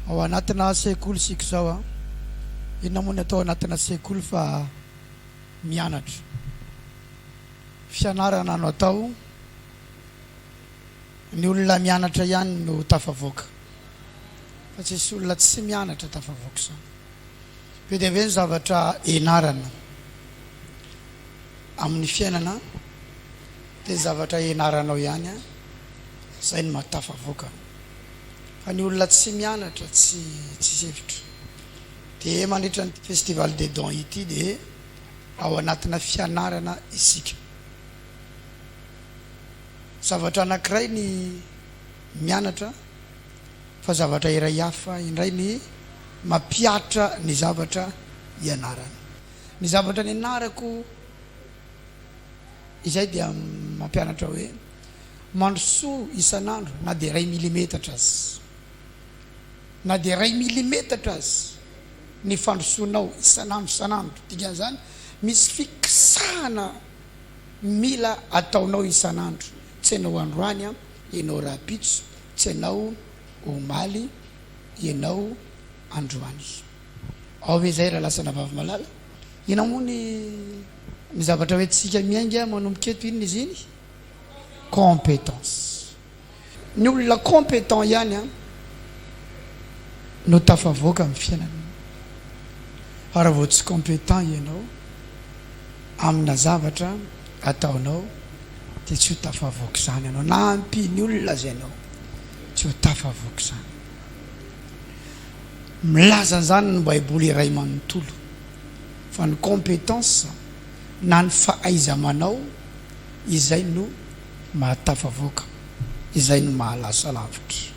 Ao anatina sekoly isika izao an! Inona moa ny atao anatina sekoly fa mianatra. Fianarana no atao, ny olona mianatra ihany no tafavoaka fa tsisy olona tsy mianatra tafavoaka izany. Be dia be ny zavatra ianarana amin'ny fiainana dia ny zavatra ianaranao ihany an! Izay no mahatafavoaka. Fa ny olona tsy mianatra tsy tsisy hevitra dia mandritra an'ity festival des dons ity dia ao anatina fianarana isika. Zavatra anankiray ny mianatra fa zavatra iray hafa indray ny mampihatra ny zavatra ianarana. Ny zavatra nianarako izay dia mampianatra hoe. Mandrosoa isan'andro na dia iray milimetatra aza. Na dia iray milimetatra aza ny fandrosoanao isan'andro isan'andro. Dikan'izany, misy fikisahana mila ataonao isan'andro. Tsy ianao androany, ianao rahampitso, tsy ianao omaly, ianao androany. Ao ve izay Ralasana Vavimalala? Inona moa ny ny zavatra hoentintsika miainga manomboka eto? Inona izy iny? compétence. Ny olona compétent ihany an no tafavoaka amin'ny fiainana. Fa raha vao tsy compétent ianao amina zavatra ataonao dia tsy ho tafavoaka izany ianao na ampian'ny olona aza ianao tsy ho tafavoaka izany. Milaza an'izany ny baiboly iray manontolo fa ny compétence na ny fahaiza-manao Izay no mahatafavoaka, izay no mahalasa lavitra.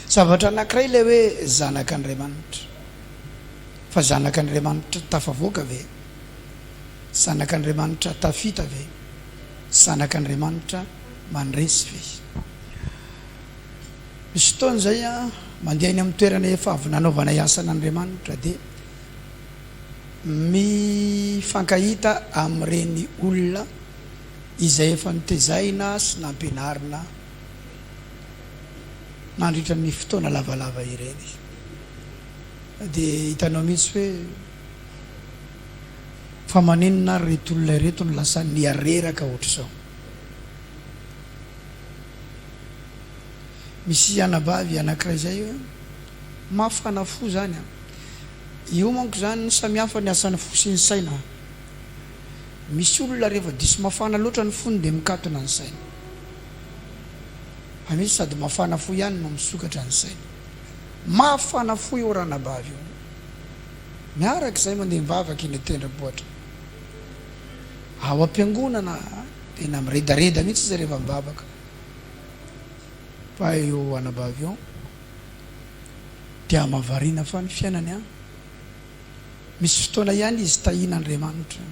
Zavatra anankiray ilay hoe Zanak' Andriamanitra. Fa Zanak' Andriamanitra tafavoaka ve? Zanak' Andriamanitra tafita ve? Zanak' Andriamanitra mandresy ve? Misy fotoana izay mandeha eny amin'ny toerana efa avy nanaovanay asan' Andriamanitra dia. Mifankahita amin'ireny olona izay efa notezaina sy nampianarina nandritra ny fotoana lavalava ireny dia hitanao mihitsy hoe fa maninona ary ireto olona ireto no lasa niareraka ohatr'izao. Misy anabavy anankiray izay hoe. Mafana fo zany an! Io manko zany ny samihafa ny asan'ny fo sy ny saina an! Misy olona rehefa diso mafana loatra ny fony dia mikatona ny sainy. Fa misy sady mafana fo ihany no misokatra ny sainy. Mafana fo io ranabavy io. Miaraka izay mandeha mivavaka eny an-tendrombohitra. Ao am-piangonana tena miredareda mihitsy izy rehefa mivavaka. Fa io anabavy io. dia hamavarina fa ny fiainany an! misy fotoana ihany izy tahiana Andriamanitra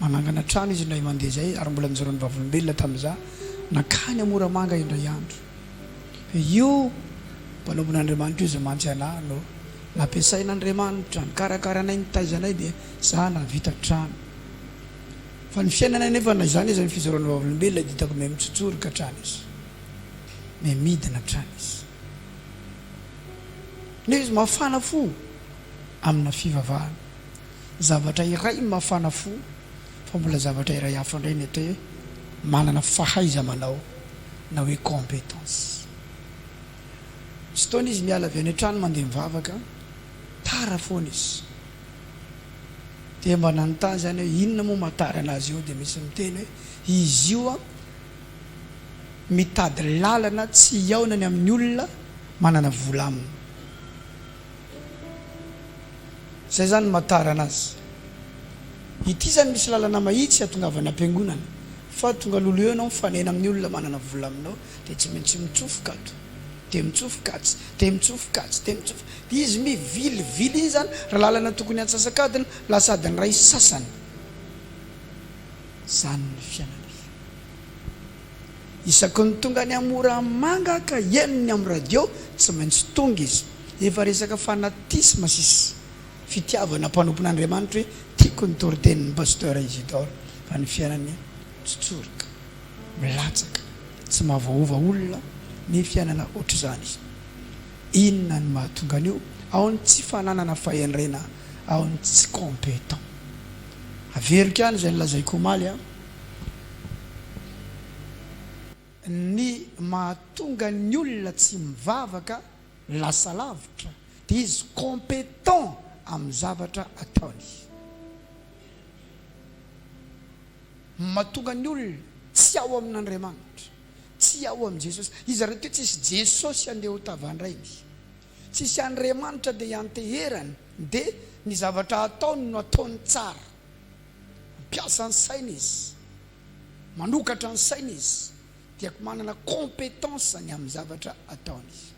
manangana trano izy indray mandeha izay ary mbola nijoro ny vavolombelona tamin'iza nankany a Moramanga indray andro hoe io mpanompon' Andriamanitra io izay mantsy anah no nampiasain' Andriamanitra nikarakara anay nitaiza anay dia za nahavita trano fa ny fiainanay nefa na izany aza ny fijoroan'ny vavolombelona dia hitako miha mitsotsoroka hatrany izy Dia midina hatrany izy. Nefa izy mafana fo amina fivavahana. Zavatra iray ny mafana fo fa mbola zavatra iray hafa indray ny atao hoe manana fahaiza-manao na hoe compétence. Misy fotoana izy miala avy any an-trano mandeha mivavaka, tara foana izy. Dia mba nanontany izany hoe inona moa mahatara an'azy eo dia misy miteny hoe izy io mitady lalana tsy hihaonany amin'ny olona manana vola aminy. Izay izany no mahatarana azy. Ity izany misy lalana mahitsy hiatongavana am-piangonana, fa tonga lolo eo ianao mifanena amin'ny olona manana vola aminao dia tsy maintsy mitsofoka ato, dia mitsofoka atsy, dia mitsofoka atsy, dia mitsofoka, dia izy mivilivily iny izany raha lalana tokony antsasak'adiny lasa adin'iray sasany. izany ny fiainana io. Isaky ny tonga any Moramanga ka heno ny amin'ny radio, tsy maintsy tonga izy. Efa resaka fanatisme sisa, fitiavana mpanompon' Andriamanitra hoe tiako ny toritenin' ny Pasteur Isidore fa ny fiainany tsotsorika, milatsaka, tsy mahavoaova olona ny fiainana ohatr'izany izy. Inona no mahatonga an'io? Ao ny tsy fananana fahendrena, ao ny tsy compétent. Averiko any izay nolazaiko omaly an! Ny mahatonga ny olona tsy mivavaka lasa lavitra dia izy compétent amin'ny zavatra ataony. Mahatonga ny olona tsy ao amin'Andriamanitra, tsy ao amin'i Jesosy. Izy raha toa tsisy Jesosy andeha ho tavandrainy, Tsisy Andriamanitra dia ianteherany dia ny zavatra ataony no ataony tsara. Mampiasa ny saina izy, manokatra ny saina izy dia manana compétence ny amin'ny zavatra ataony izy.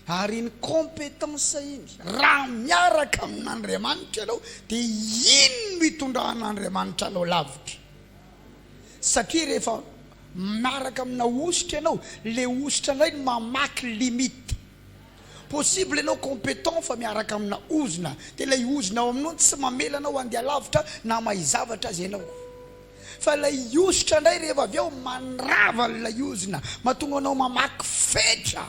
Ary iny compétence iny raha miaraka amin'Andriamanitra ianao dia iny no itondran'Andriamanitra anao lavitra. satria rehefa miaraka amina hosotra ianao le hosotra ndray no mamaky limite possible ianao competent fa miaraka amina ozona de ilay ozona ao aminao tsy mamela anao handeha lavitra na mahay zavatra aza ianao fa ilay hosotra ndray rehefa avy eo mandrava ilay ozona mahatonga anao mamaky fetra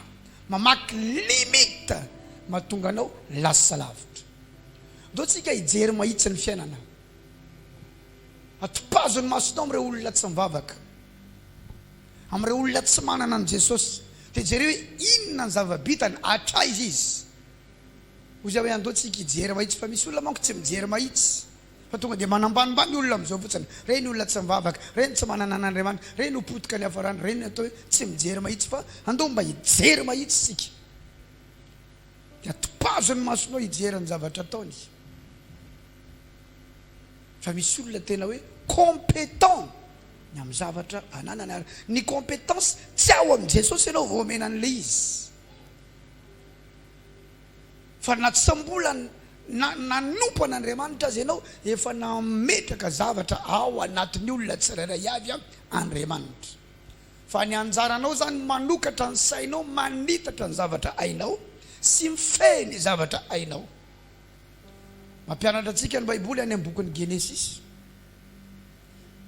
mamaky limite mahatonga anao lasa lavitra ndao tsika hijery mahitsy ny fiainana Atopazo ny masonao amin'ireo olona tsy mivavaka, amin'ireo olona tsy manana an'i Jesosy, dia jereo hoe inona ny zava-bitany, hatraiza izy. Hoy aho hoe andao tsika hijery mahitsy, fa misy olona manko tsy mijery mahitsy, fa tonga dia manambanimbany olona amin'izao fotsiny, ireny olona tsy mivavaka, ireny tsy manana an'Andriamanitra, ireny ho potika ny hafarana, ireny atao hoe tsy mijery mahitsy, fa andao mba hijery mahitsy tsika, dia atopazo ny masonao hijery ny zavatra ataony. Fa misy olona tena hoe competent ny amin'ny zavatra ananany ary ny competence tsy ao amin'i Jesosy ianao vao omena an'ilay izy. Fa na tsy mbola nanompo an'Andriamanitra aza ianao efa nametraka zavatra ao anatin'ny olona tsirairay avy Andriamanitra. Fa ny anjaranao izany manokatra ny sainao manitatra ny zavatra hainao sy mifehy ny zavatra hainao. Mampianatra antsika ny Baiboly any amin'ny bokin'ny Genesisy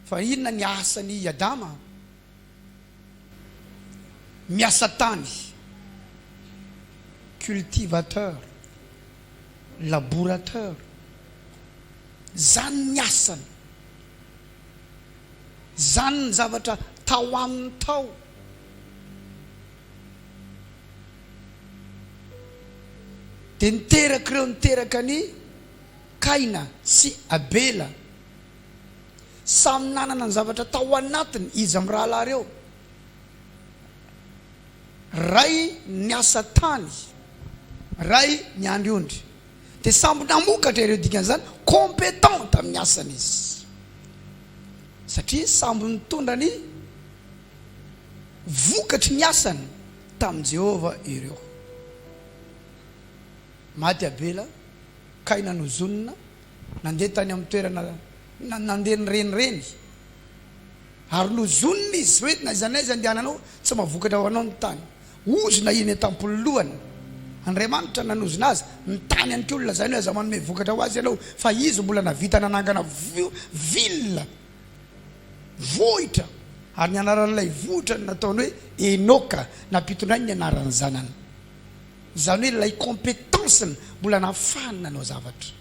fa inona ny asan' i Adama? Miasa tany, cultivateur, laborateur, izany ny asany, izany ny zavatra tao aminy tao. Dia niterak'ireo niteraka an'i Kaina sy Abela. Samy nanana ny zavatra tao anatiny iza mirahalahy ireo. Ray ny asa tany, ray ny andry ondry. Dia samy namokatra ireo dikan'izany, compétent tamin'ny asany izy. Satria samy nitondra ny. Vokatry ny asany tamin'i Jehovah ireo. Maty Abela, Kaina nozonina, nandeha tany amin'ny toerana, nandeha nirenireny, ary nozonina izy hoe, N'aiza n'aiza andehananao, tsy mba vokatra ho anao ny tany. Ozona eny an-tampon-lohany. Andriamanitra no nanozona azy. Ny tany ihany koa no lazainy hoe, Aza manome vokatra ho azy ianao. Fa izy mbola nahavita nanangana villa. Vohitra, ary ny anaran'ilay vohitra no nataony hoe Enoka, nampitondrainy ny anaran'ny Zanany. Izany hoe ilay compétence-ny mbola nahafahany nanao zavatra.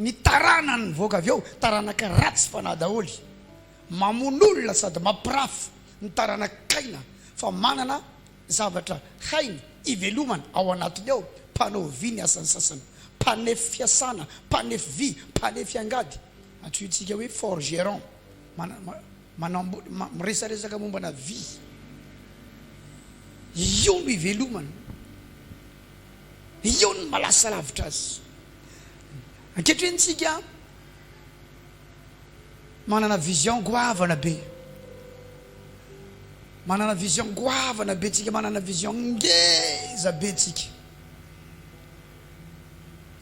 Ny taranany nivoaka avy eo, taranaka ratsy fanahy daholo, mamono olona sady mampirafy ny taranak'i Kaina, fa manana zavatra hainy ivelomana ao anatiny ao, mpanao vy ny asan'ny sasany, mpanefy fiasana, mpanefy vy, mpanefy angady. Antsointsika hoe forgeron, manamboatra, miresaresaka mombana vy. Io no ivelomany. Io no mahalasa lavitra azy. Ankehitriny tsika manana vision goavana be. Manana vision goavana be tsika, manana vision ngeza be tsika.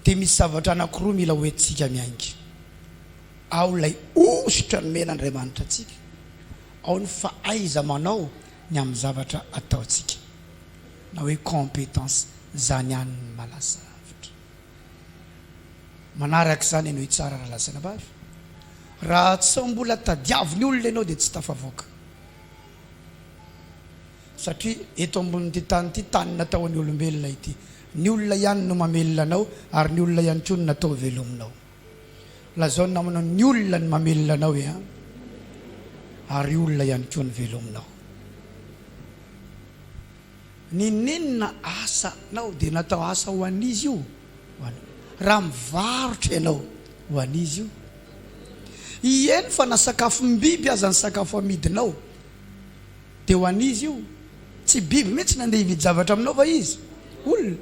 dia misy zavatra anankiroa mila hoentintsika miainga ao, ilay hosotra nomen'Andriamanitra antsika, ao ny fahaiza-manao ny amin'ny zavatra ataontsika, na hoe compétence, izany ihany ny malasavdra. Manaraka izany ianao hitsara raha lasa nabavy. Raha tsy mbola tadiavin'ny olona ianao dia tsy tafavoaka. Satria eto ambonin'ity tany ity, tany natao ho an'ny olombelona ity, Ny olona ihany no mamelona anao ary ny olona ihany koa no natao ho velominao. Lazao ny namanao ny olona no mamelona anao e a! ary olona ihany koa no velominao. Ny nenina asa nao dia natao asa ho an'izy io ho anao. Raha mivarotra ianao, ho an'izy io. Hieno fa na sakafom-biby aza ny sakafo amidinao Dia ho an'izy io. Tsy biby mihitsy ny andeha hividy zavatra aminao fa izy. Olona.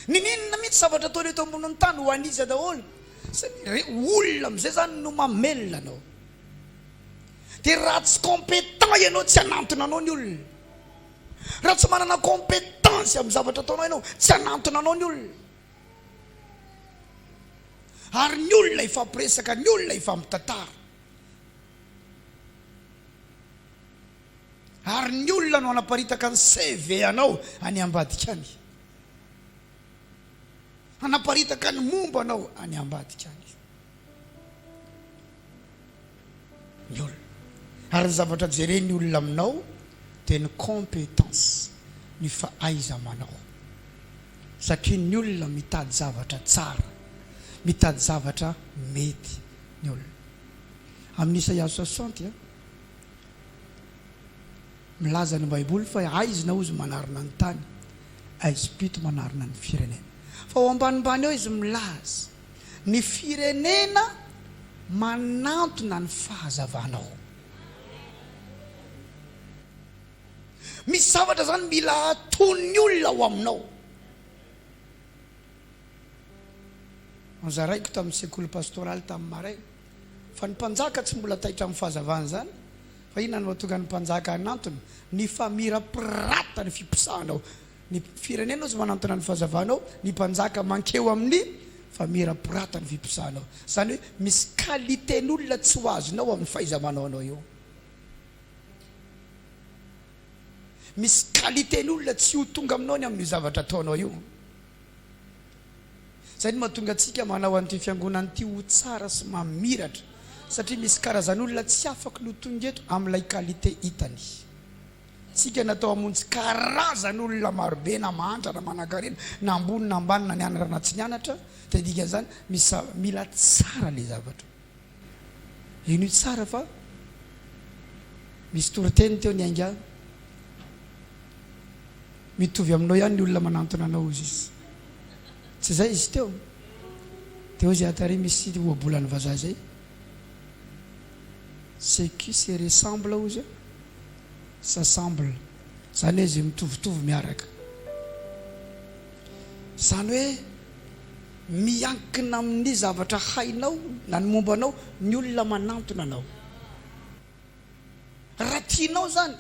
Ny n'inona mihitsy zavatra ataonao eto ambonin'ny tany ho an'iza daholo. Satria re, olona amin'izay izany no mamelona anao. Dia raha tsy compétent ianao, tsy hanantona anao ny olona. Raha tsy manana compétence amin'ny zavatra ataonao ianao, tsy hanantona anao ny olona. Ary ny olona hifampiresaka, ny olona hifampitantara. Ary ny olona no hanaparitaka ny CV anao any ambadika any. Hanaparitaka ny momba anao any ambadika any. ny olona. Ary ny zavatra jeren'ny olona aminao dia ny compétence, ny fahaiza-manao. Satria ny olona mitady zavatra tsara, mitady zavatra mety ny olona. Amin'ny Isaia soixante, milaza ny Baiboly fa haizina ozy manarina ny tany, haizim-pito manarina ny firenena. Fa ao ambanimbany ao izy milaza. Ny firenena manantona ny fahazavanao. Misy zavatra zany mila aton'ny olona ao aminao. Nozaraiko tamin'ny sekoly pastoraly tamin'ny maraina fa ny mpanjaka tsy mbola taitra amin'ny fahazavana zany fa inona no mahatonga ny mpanjaka hanantona? Ny famirapirata ny fiposahanao. Ny firenenao tsy manantona ny fazavanao, ny mpanjaka mankeo amin'ny famirapiratany fiposahanao. Izany hoe misy qualités-n'olona tsy ho azonao amin'ny fahaiza-manaonao eo. Misy qualités-n'olona tsy ho tonga aminao ny amin'io zavatra ataonao io. Izay no mahatonga antsika manao an'ity fiangonana ity ho tsara sy mamiratra, satria misy karazan'olona tsy afaka ny ho tonga eto amin'ilay qualité hitany. Isika natao hamonjy karazan'olona marobe na mahantra na manankarena na ambony na ambany na nianatra na tsy nianatra dia ny dikan'izany misy mila tsara ilay zavatra henoy tsara fa misy toriteny teo ny haingana mitovy aminao ihany ny olona manantona anao izy izy tsy izay izy teo dia hoy izy atary misy ohabolan'ny vazaha izay C'est qui se ressemble hoy izy a? S'assemble, izany hoe izay mitovitovy miaraka. Izany hoe miankina amin'ny zavatra hainao na ny momba anao ny olona manantona anao. Raha tianao izany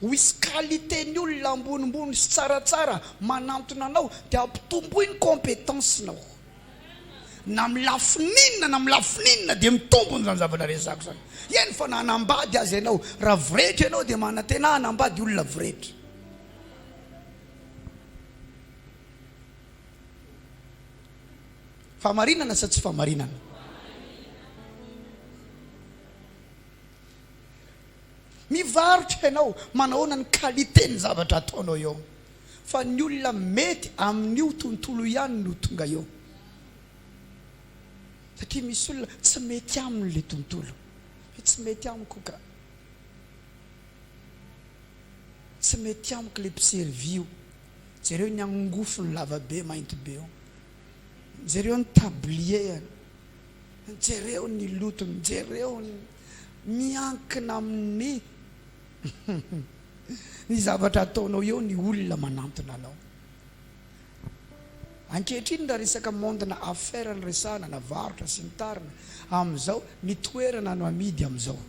ho hisy qualités-ny olona ambonimbony sy tsaratsara manantona anao dia ampitomboy ny compétences-nao. Na amin'ny lafiny inona na amin'ny lafiny inona dia mitombona izany zavatra resako izany. Eny fa na hanambady aza ianao, raha voretra ianao dia manantena hanambady olona voretra. Fahamarinana sa tsy fahamarinana? Mivarotra ianao, manao ahoana ny qualité ny zavatra ataonao eo fa ny olona mety amin'io tontolo ihany no tonga eo satria misy olona tsy mety aminy le tontolo hoe tsy mety amiko ka tsy mety amiko le mpiservy io jereo ny angofony lavabe mainty be eo jereo ny tablier Jereo ny lotony, jereo ny miankina amin'ny ny zavatra ataonao eo ny olona manantona anao. Ankehitriny raha resaka monde-na affaires no resahana na varotra sy ny tariny, amin'izao ny toerana no amidy amin'izao.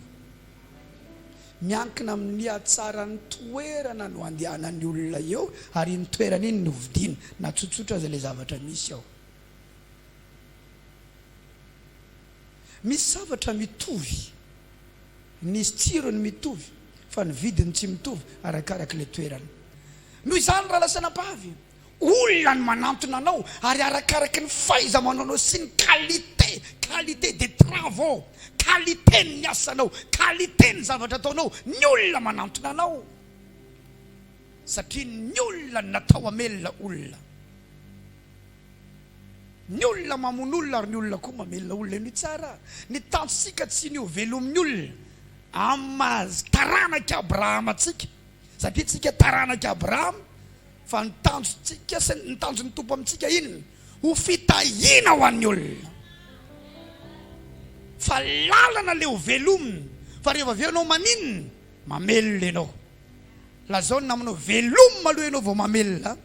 Miankina amin'ny hatsaran'ny toerana no andehanan'ny olona eo ary iny toerana iny no vidiana na tsotsotra aza ilay zavatra misy ao. Misy zavatra mitovy, misy tsirony mitovy fa ny vidiny tsy mitovy arakaraka ilay toerana. Noho izany raha lasan'ny ampahave, olona no manantona anao ary arakaraka ny fahaiza-manaonao sy ny qualité, qualité des travaux, qualité-n'ny asanao, qualité-n'ny zavatra ataonao ny olona manantona anao satria ny olona no natao hamela olona. Ny olona mamono olona ary ny olona koa mamelona olona. Henoy tsara, ny tanjontsika tsy ny ho velomin'ny olona amin'ny maha taranak'i Abrahama antsika, satria isika taranak'i Abrahama, fa ny tanjontsika sy ny tanjon'ny Tompo amintsika inona? Ho fitahiana ho an'ny olona. Fa lalana ilay ho velomina, fa rehefa avy eo ianao maninona? Mamelona ianao. Lazao ny namanao veloma aloha ianao vao mamelona an!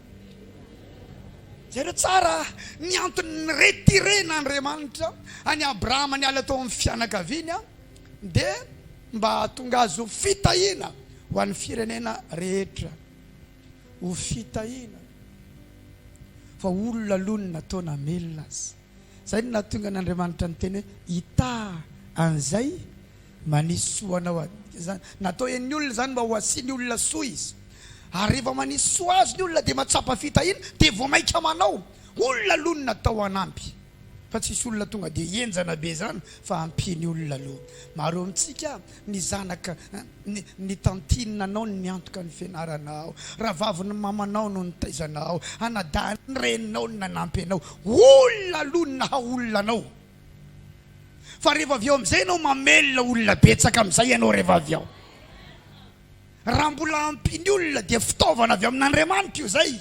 Jereo tsara ny antony ni-retiren'Andriamanitra an'i Abrahama niala tao amin'ny fianakaviany an! dia mba hahatonga azy ho fitahiana ho an'ny firenena rehetra. Ho fitahiana. Fa olona aloha no natao namelona azy. Izay no nahatonga an' Andriamanitra niteny hoe, Hitaha an'izay manisy soa anao adika izany, natao eny ny olona izany mba ho asiany olona soa izy, ary rehefa manisy soa azy ny olona dia mahatsapa fitahiana dia vao maika manao, olona aloha no natao hanampy fa tsisy olona tonga dia henjana be izany fa ampiany olona aloha, maro amintsika. ny zanaka ny tantinanao no niantoka ny fianaranao, rahavavin'ny mamanao no nitaiza anao, anadahin'ny reninao no nanampy anao, olona aloha ny naha olona anao fa rehefa avy eo amin'izay ianao mamelona olona betsaka amin'izay ianao rehefa avy eo raha mbola ampin'ny olona dia fitaovana avy amin'Andriamanitra io izay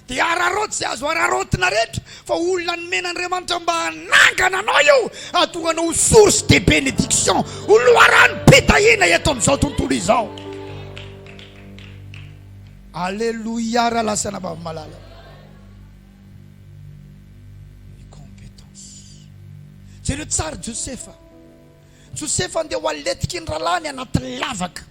Dia araraoty izay azo araraotina rehetra fa olona nomena Andriamanitra mba hanangana anao io hahatonga anao ho source de bénédiction, ho loharanom-pitahiana eto amin'izao tontolo izao. Alléluia ra lahy sy anabavy malala. Ny compétence. Jereo tsara Josefa. Josefa andeha ho aletiky ny rahalahiny anaty lavaka.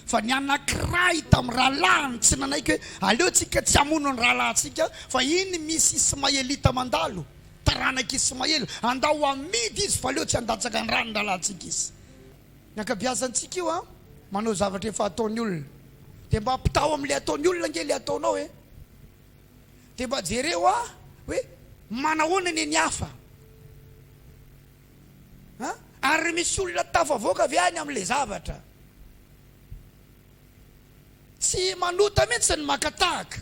Fa ny anankiray tamin'ny rahalahiny tsy nanaiky hoe, Aleontsika tsy hamono ny rahalahintsika, fa iny misy Ismaelita mandalo, taranak'i Ismaela. Andao hamidy izy, fa aleo tsy handatsaka ny ran'ny rahalahintsika izy. Ny ankabeazantsika io an, manao zavatra efa ataon'ny olona. Dia mba ampitaho amin'ilay ataon'ny olona ange ilay ataonao e. Dia mba jereo an, hoe manahoana anie ny hafa. Ary misy olona tafavoaka ve any amin'ilay zavatra? Tsy manota mihitsy ny maka tahaka.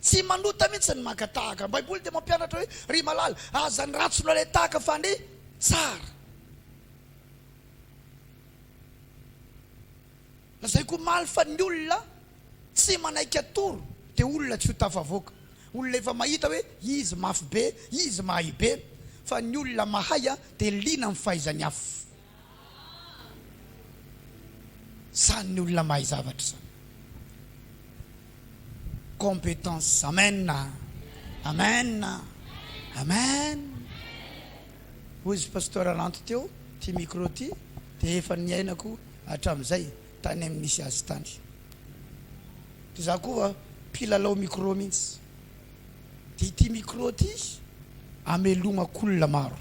Tsy manota mihitsy ny maka tahaka. Ny Baiboly dia mampianatra hoe, Ry malala, aza ny ratsy no aleha tahaka fa ny tsara. Lazaiko omaly fa ny olona tsy manaiky atoro dia olona tsy ho tafavoaka. Olona efa mahita hoe izy mafy be, izy mahay be. Fa ny olona mahay dia liana amin'ny fahaizany af. Izany ny olona mahay zavatra izany. Compétence. Amen! Amen! Amen! Hoy izy Pasteur Ranto teo, ity micro ity dia efa niainako hatramin'izay tany amin'ny nisy azy tany. Dia za koa mpilalao micro mihitsy. Dia ity micro ity amelomako olona maro.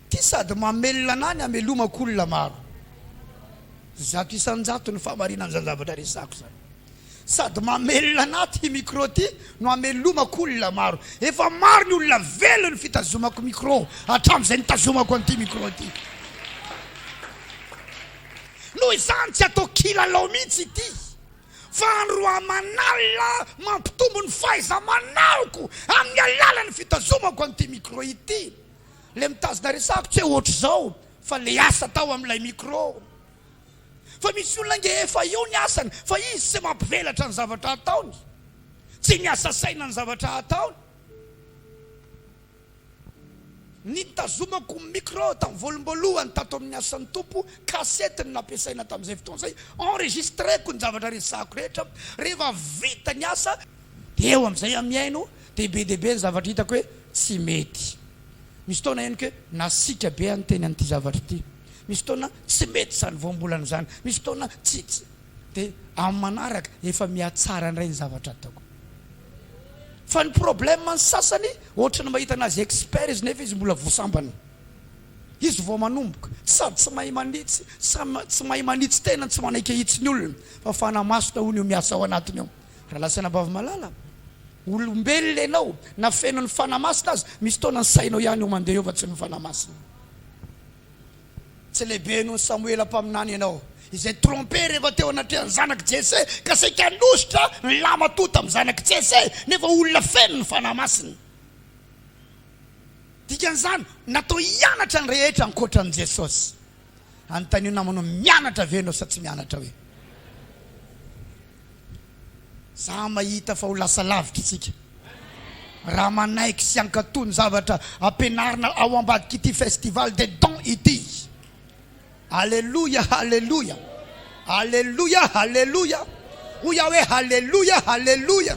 Ity sady mamelona anah ny amelomako olona maro. Zato isan-jato ny fahamarinan'izany zavatra resahako izany. Sady mamelona anah ty micro ty no amelomako olona maro. Efa maro ny olona velona ny fitazomako micro hatramizay nitazomako an'ity micro ty. Noho izany tsy atao kilalao mihitsy ity fa andro aman'alina mampitombo ny fahaiza-manaoko amin'ny alalan'ny fitazomako an'ity micro ity. Le mitazona resako tsy hoe ohatr'izao fa le asa tao amin'ilay micro. Fa misy olona nge efa eo ny asany fa izy tsy mampivelatra ny zavatra ataony, tsy miasa saina ny zavatra ataony. Nitazomako micro tamin'ny voaloham-boalohany tato amin'ny asan'ny Tompo, kasety no nampiasaina tamin'izay fotoana izay, enregistreko ny zavatra resahako rehetra, rehefa vita ny asa, dia eo amin'izay aho mihaino, dia be dia be ny zavatra hitako hoe tsy mety. Misy fotoana henoko hoe nasiaka be aho niteny an'ity zavatra ity. Misy fotoana tsy mety izany voambolana izany, misy fotoana tsy tsy dia amin'ny manaraka efa mihatsara indray ny zavatra ataoko. Fa ny problème ny sasany ohatry ny mahita anazy expert izy nefa izy mbola vao sambany. Izy vao manomboka, sady tsy mahay manitsy, tsy mahay manitsy tena, tsy manaiky ahitsy ny olona fa fanahy masina hono io miasa ao anatiny ao. Ralasanah Bavimalala, olombelona ianao na feno ny fanahy masina aza, misy fotoana ny sainao ihany eo mandeha eo fa tsy ny fanahy masina. Tsy lehibe noho Samoela mpaminany ianao, izay trompe rehefa teo anatrehan'ny zanak'i Jese, ka saika handositra ny lamatoa tamin'ny zanak'i Jese, nefa olona feno ny Fanahy Masina. Dikan'izany, natao hianatra ny rehetra ankoatra an'i Jesosy. Anontanio namana hoe, Mianatra ve ianao sa tsy mianatra? hoe. Za mahita fa ho lasa lavitra isika raha manaiky sy hankatò ny zavatra ampianarina ao ambadik'ity Festival des Dons ity. Aleloia, Haleloia, Aleloia, Haleloia. Hoy aho hoe, Haleloia, Haleloia.